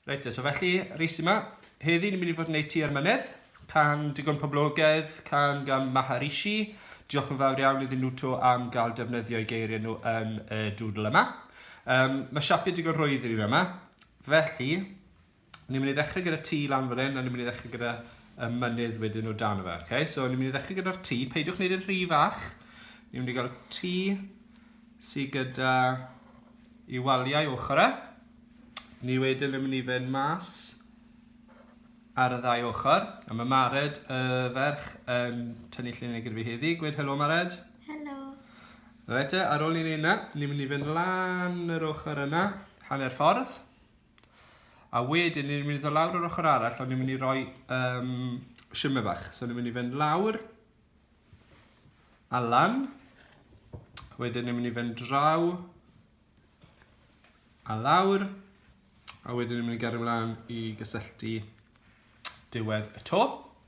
Reit te, so felly, reis yma. Heddi ni'n mynd i fod yn gwneud tua'r mynedd, can digon poblogaidd, can gan Maharishi. Diolch yn fawr iawn iddyn nhw to am gael defnyddio'i geiriau nhw yn y dŵdl yma. Um, mae siapio digon rhwydd i ni yma, felly Ni'n mynd i ddechrau gyda T lan fan hyn, a ni'n mynd i ddechrau gyda y mynydd wedyn o dan y fe. Okay? So ni'n mynd i ddechrau gyda'r T, peidiwch wneud yn rhy fach. Ni'n mynd i gael T sydd gyda i waliau ochr e. Ni wedyn yn mynd i fynd mas ar y ddau ochr. A mae Mared, y ferch, yn tynnu llun gyda fi heddi. Gwed helo Mared. Helo. Rhaid e, ar ôl ni'n ei yna, ni'n mynd i fynd lan yr ochr yna, hanner ffordd. A wedyn, ni'n mynd i ddod lawr yr ochr arall, ond ni'n mynd i roi um, shimmer bach. So ni'n mynd i fynd lawr, a lan. Wedyn ni'n mynd i fynd draw, a lawr. A wedyn ni'n mynd i gario mlaen i gysylltu diwedd y to.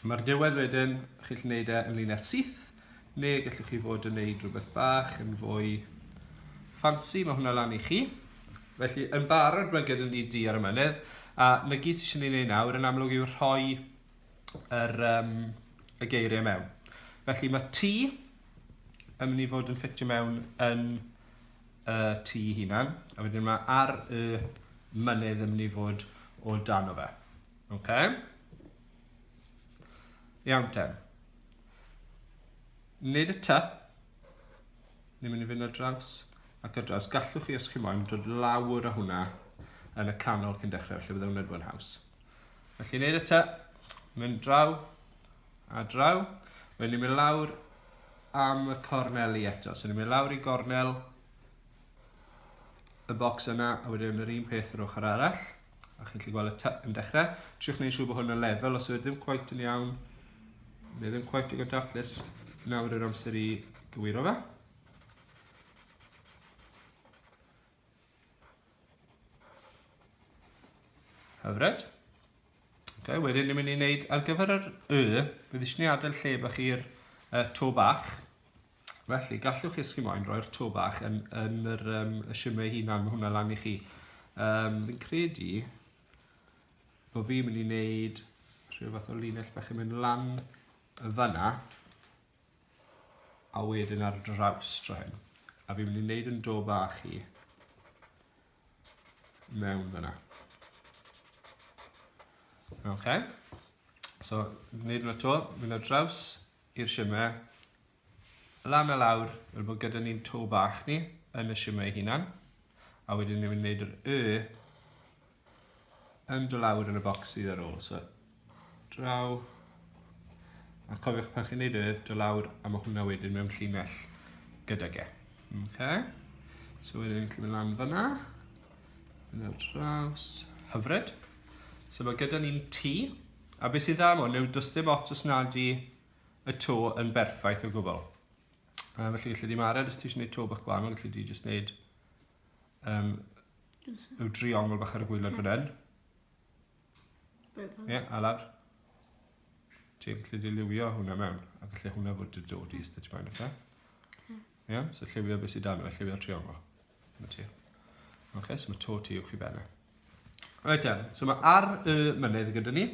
Mae'r diwedd wedyn, chi'n gallu gwneud e yn lunell syth, neu gallwch chi fod yn gwneud rhywbeth bach yn fwy ffansi, mae hwnna lan i chi. Felly, yn barod, mae gyda ni di ar y mynydd, a na gyd sy'n eisiau ei wneud nawr yn amlwg yw rhoi yr, um, y geiriau mewn. Felly mae T yn mynd i fod yn ffitio mewn yn y uh, T hunan, a wedyn mae ar y mynydd yn mynd i fod o dan o fe. Okay? Iawn te. Wneud y ty. Ni'n mynd i fynd ar draws ac ar draws. Gallwch chi, os chi moyn, dod lawr o hwnna yn y canol cyn dechrau, felly byddai hwnna'n fwy'n haws. Felly, wneud y ty. Mynd draw a draw. Wedyn ni'n mynd lawr am y corneli eto. So ni'n mynd lawr i gornel y bocs yna a wedyn yr un peth yr ochr arall a chi'n gallu gweld y typ yn dechrau triwch wneud siŵr bod hwn yn lefel os ydym ddim cwaith yn iawn neu ddim cwaith digon daclus nawr yr amser i gywiro fe hyfryd okay, wedyn ni'n mynd i wneud ar gyfer yr y bydd eisiau ni adael lle bach i'r uh, to bach Felly, gallwch chi os chi moyn roi'r to bach yn, yn yr, um, y simau ei hunan, mae hwnna lan i chi. Um, fi'n credu bod fi'n mynd i wneud rhyw fath o linell bach yn mynd lan y fanna a wedyn ar draws dro hyn. A fi'n mynd i wneud yn do bach i mewn fanna. OK. So, wneud hwnna to, mynd ar draws, i'r shimmer lan a lawr fel bod gyda ni'n to bach ni yn y shimmer ei hunan a wedyn ni'n mynd wneud yr y yn do lawr yn y bocs sydd ar ôl so draw a cofiwch pan chi'n wneud y do lawr a mae hwnna wedyn mewn llinell gyda ge okay. so wedyn ni'n cymryd lan fyna yn y draws hyfryd so mae gyda ni'n tŷ A be sydd dda am hwn yw does dim ots os nad i y to yn berffaith o gwbl. A felly gallu di mared os ti eisiau gwneud to bach gwahanol, gallu di jyst gwneud um, yw driongl bach ar y gwylod fan hyn. Ie, yeah, a lawr. Ti'n gallu dilywio hwnna mewn, a gallu hwnna fod dy dod i ystod ti mewn, oce? Ie? So lliwio beth sydd dan fe, lliwio'r triongl. Mae ti. Ok, so mae to ti uwch i benna. Right then, so mae ar y mynydd gyda ni.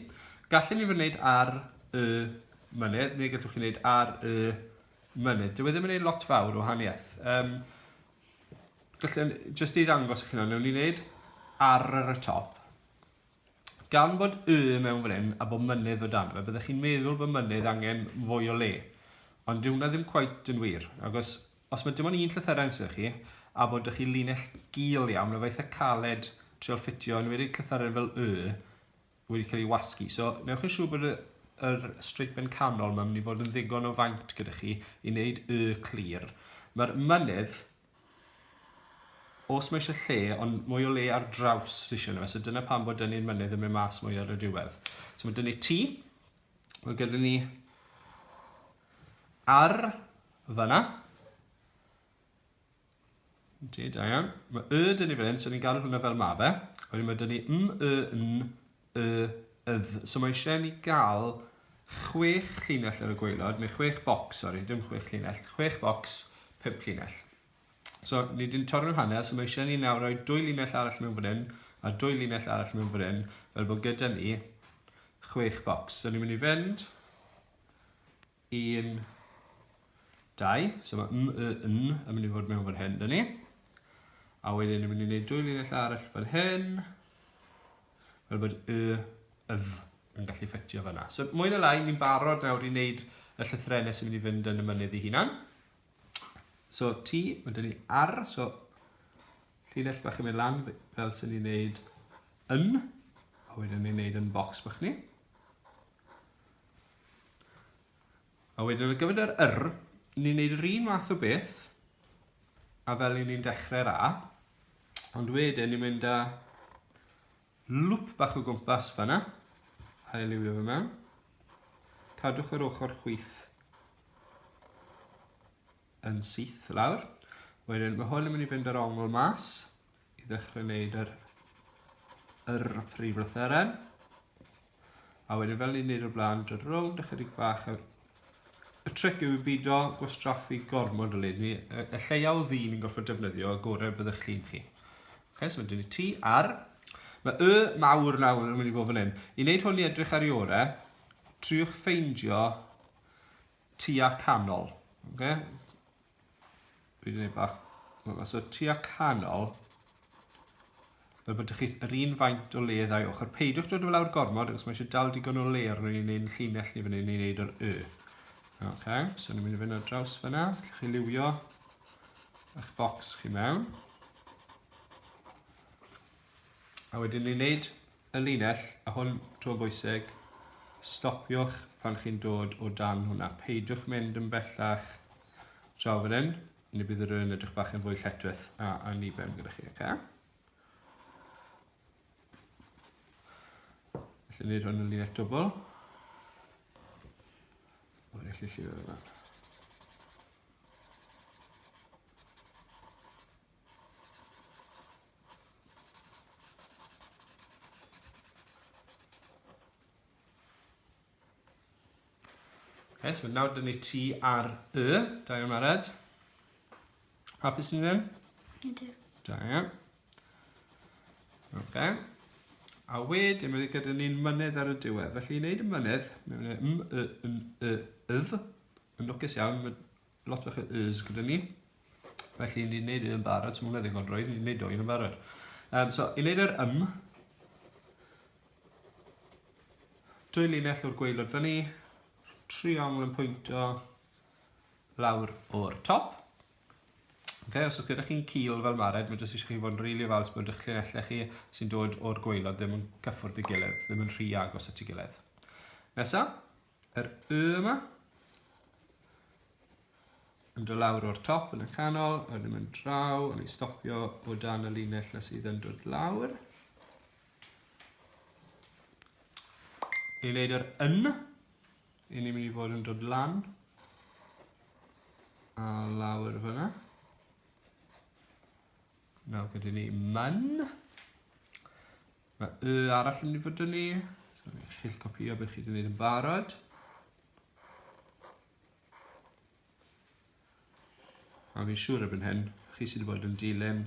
Gallwn ni fy wneud ar y mynydd, neu gallwch chi wneud ar y mynydd. Dwi e ddim yn gwneud lot fawr o haniaeth. Um, gallwn, just i ddangos chi hynna, newn ni wneud ar y top. Gan bod Y mewn fan 'yn a bo' mynydd o dano fe byddech chi'n meddwl bo' mynydd angen fwy o le. Ond dyw hwnna ddim cweit yn wir, agos os ma' dim ond un llythyren sy 'da chi a bod 'da chi linell gul iawn ma' fe eitha caled trial ffitio enwedig llythyren fel Y wedi cael ei wasgu. So newch yn siŵr bod y yr streipen canol ma'n mynd i fod yn ddigon o faint gyda chi i wneud Y clir. Ma'r mynydd Os mae eisiau lle, ond mwy o le ar draws sydd eisiau nhw. So dyna pam bod dynnu'r mynydd yn mynd mas mwy ar y diwedd. So mae dynnu T. Mae gyda ni ar fyna. Ti, da iawn. Mae y dynnu fan hyn, so ni'n gael hwnna fel ma fe. Wedyn mae dynnu m, y, n, y ydd. So mae eisiau ni gael chwech llinell ar y gweilod, neu chwech bocs, sori, dim chwech llinell, chwech bocs, pimp llinell. So, ni wedi'n torri'r hanner, so mae eisiau ni nawr roi dwy llinell arall mewn fan hyn, a dwy llinell arall mewn fan hyn, fel bod gyda ni chwech bocs. So, ni'n mynd i fynd 1, 2, so mae m, y, n yn mynd i fod mewn fan hyn, dyn ni. A wedyn yn mynd i wneud dwy linell arall fan hyn, fel bod y, y, yn gallu ffitio fyna. So mwy na lai, ni'n barod nawr i wneud y llythrenau sy'n mynd i fynd yn y mynydd i hunan. So T, mae dyn ni R, so llinell bach yn mynd lan fel sy'n ni'n wneud yn, a wedyn ni'n wneud yn box bach ni. A wedyn ar gyfer yr yr, ni'n gwneud yr un math o beth a fel ni'n dechrau'r A, ond wedyn ni'n mynd â lwp bach o gwmpas fanna, a eliwio fe mewn. Cadwch yr ochr chwith yn syth lawr. Wedyn mae hwn yn mynd i fynd ar ongl mas, i ddechrau wneud yr, yr prif lytheren. A wedyn fel ni'n neud o'r blaen, dod rownd ychydig bach. Y tric yw i bido gwastraffu gormod o leni. Y, y lleia o ddyn yn gorfod defnyddio, y gorau byddwch chi'n chi. Okay, so wedyn ni ti ar. Mae y mawr nawr yn mynd i fod fan hyn. I wneud hwn i edrych ar i orau, triwch ffeindio tua canol. Okay? Dwi'n gwneud bach... So tua canol. Fel bod chi yr un faint o le ddau ochr. Peidiwch dod o lawr gormod, achos mae eisiau dal digon o le arno ni'n ein llinell ni fan hyn i wneud yr y. Ok, so ni'n mynd i fynd ar draws fyna. Lle chi liwio eich bocs chi mewn. A wedyn ni'n wneud Y linell, a hwn tro bwysig, stopiwch pan chi'n dod o dan hwnna. Peidiwch mynd yn bellach draw fan hyn, neu bydd yr yn edrych bach yn fwy lletwith a anniben gyda chi, okay? Felly wneud hwn yn linell dwbl. Mae'n eich llifio fe fan. Okay, so nawr dyn ni ti ar y, da iawn Mared. Hapus ni ddim? Ydw. Da iawn. Okay. A wedyn mae gyda ni'n mynydd ar y diwedd. Felly i wneud y mynydd, mae'n mynd m, y, yn, y, ydd, yn lwcus iawn, Lot fach o y's gyda ni. Felly ni'n neud yn barod, so mae ddigon drwy, ni'n neud o yn barod. Um, so, i wneud yr ym, dwy linell o'r gweilod fyny, triongl yn pwyntio lawr o'r top. Okay, os ydych gyda chi'n cil fel mared, mae jyst eisiau chi fod yn rili fals bod eich llinellau chi sy'n dod o'r gweilod ddim yn cyffwrdd i gilydd, ddim yn rhy agos at ei gilydd. Nesaf, yr Y yma. Yn dod lawr o'r top yn y canol, a ddim yn draw, a ni'n stopio o dan y linell na sydd yn dod lawr. I wneud yr yn, i ni'n mynd i fod yn dod lan a lawr fyna. Nawr gyda ni man. Mae y arall yn mynd i ni. So, chi'll copio beth chi wedi gwneud yn barod. A fi'n siŵr erbyn hyn, chi sydd wedi bod yn dilyn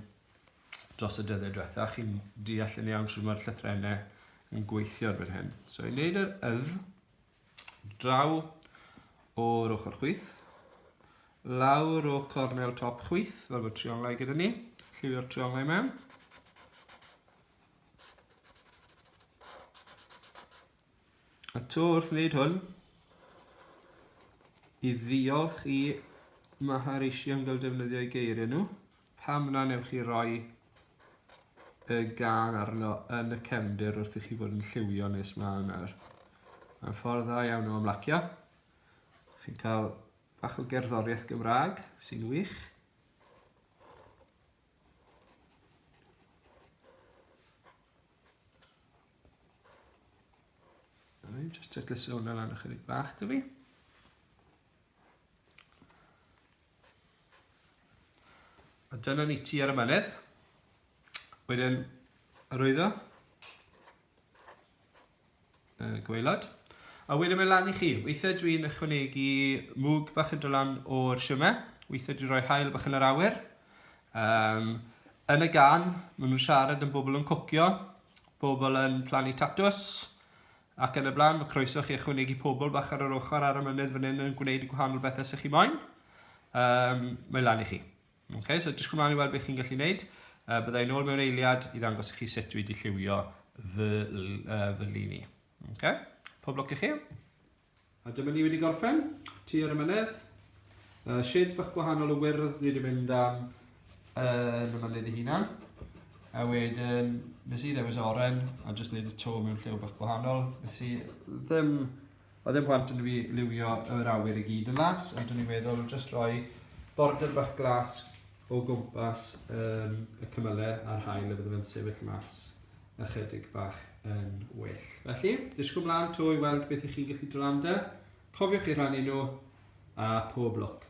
dros y dyddiau diwetha, chi'n deall yn iawn sy'n mae'r llythrennau yn gweithio erbyn hyn. So i wneud yr yf, Draw o'r ochr chwith. Lawr o cornel top chwith, fel bod trionglau gyda ni. Lliwio'r trionglau mewn. A to wrth wneud hwn, i ddiolch i Maharishi am gael defnyddio'i geiriau nhw. Pam na wnewch chi roi y gân arno yn y cefndir wrth i chi fod yn lliwio nes ma yna'r... Mae'n ffordd dda iawn o ymlacio. Chi'n cael bach o gerddoriaeth Gymraeg sy'n wych. Rwy'n just titliso hwnna lan ychydig bach da fi. A dyna ni ti ar y mynydd. Wedyn, arwyddo. Y gweilod. A wedyn mae lan i chi. Weithiau dwi'n ychwanegu mwg bach yn dylan o'r siwmau. Weithiau dwi'n rhoi hael bach yn yr awyr. Um, yn y gan, maen nhw'n siarad yn bobl yn cwcio, bobl yn plannu tatws, Ac yn y blaen, mae croeso chi ychwanegu pobl bach ar yr ochr ar y mynydd fan hyn yn gwneud y gwahanol bethau sy'ch chi moyn. Um, mae lan i chi. Okay, so jyst cymlaen i weld beth chi'n gallu gwneud. Uh, byddai'n ôl mewn eiliad i ddangos i chi sut dwi wedi lliwio fy, uh, fy lini. Okay? Pob lwc i chi. A dyma ni wedi gorffen, ti ar y mynedd. Uh, shades bach gwahanol o wyrdd ni wedi mynd am yn y mynydd ei hunan. A wedyn, nes i ddewis oren a jyst wneud y to mewn lliw bach gwahanol. Nes i ddim, o ddim plant yn fi liwio yr awyr i gyd yn las, ond dwi'n meddwl jyst rhoi border bach glas o gwmpas um, y cymylau a'r hael y bydd yn sefyll mas. ychydig bach yn well. Felly, disgwyl mlaen to i weld beth i chi'n gallu dylanda. Cofiwch i rannu nhw a pob lwc.